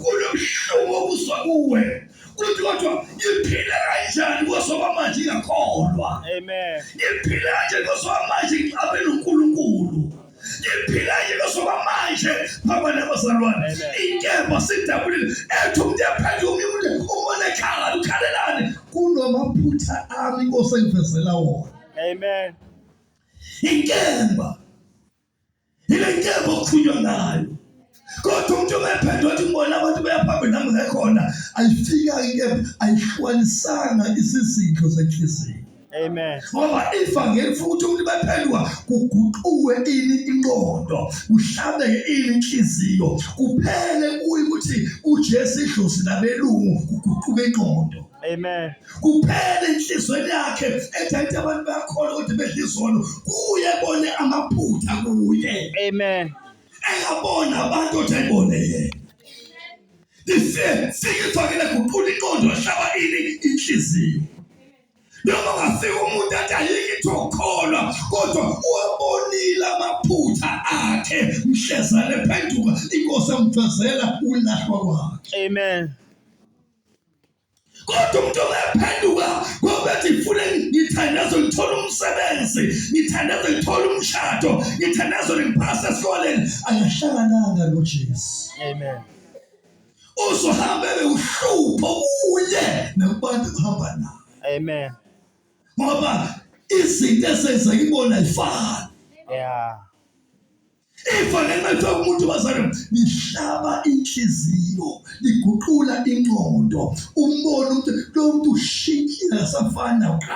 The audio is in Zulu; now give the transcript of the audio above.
Kunobuhlungu okuzwa kuwe ukuthi kodwa ngiphile kanjani kosoba manje ngiyakholwa. Amen. Ngiphile kanje kosoba manje ngixabe noNkulunkulu. Ngiphile kanje kosoba manje phamba nabazalwane. Inkemba sidabulile ethi umuntu yaphethe omunye umuntu umona ekhala ukhalelani kunamaphutha ami Nkosi engivezela wona. Amen. Inkemba Yile nkemba okukhulunywa ngayo. Kodwa umuntu obephethe wathi ngibona abantu beyaphambili nami ngekhona ayifika inkemba ayihlukanisanga isizidlo senhliziyo. Amen. Ngoba ifa ngefu ukuthi umuntu bephendwa kuguquke ini inqondo, uhlabe ini inhliziyo, kuphele kuyi ukuthi uJesu idlozi labelungu kuguquke inqondo. Amen. kuphela enhlizweni yakhe ethathe abantu bayakhona ukuthi bedla izono kuye bone amaphutha kuye amen engabona abantu othi ayibone yena siyithokele kuqula inqondo ahlaba ini inhliziyo noma ungafika umuntu athi ayike ithi ukholwa kodwa uwabonile amaphutha akhe mhlezane phenduka inkosi amfezela ulahlwa kwakhe amen kodwa umuntu ongaphenduka ngobethi ngifune ngithandaze ngithole umsebenzi ngithandaze ngithole umshado ngithandaze ngiphase esikoleni ayahlangananga noJesu amen uzohamba bewuhlupho kuye nakubantu kuhamba naye amen ngoba izinto ezenza ibona ifana yeah ifa ngenxa yokuthi umuntu wazana lihlaba inhliziyo liguqula ingqondo umbone ukuthi lo muntu ushintshile akasafani nakuqala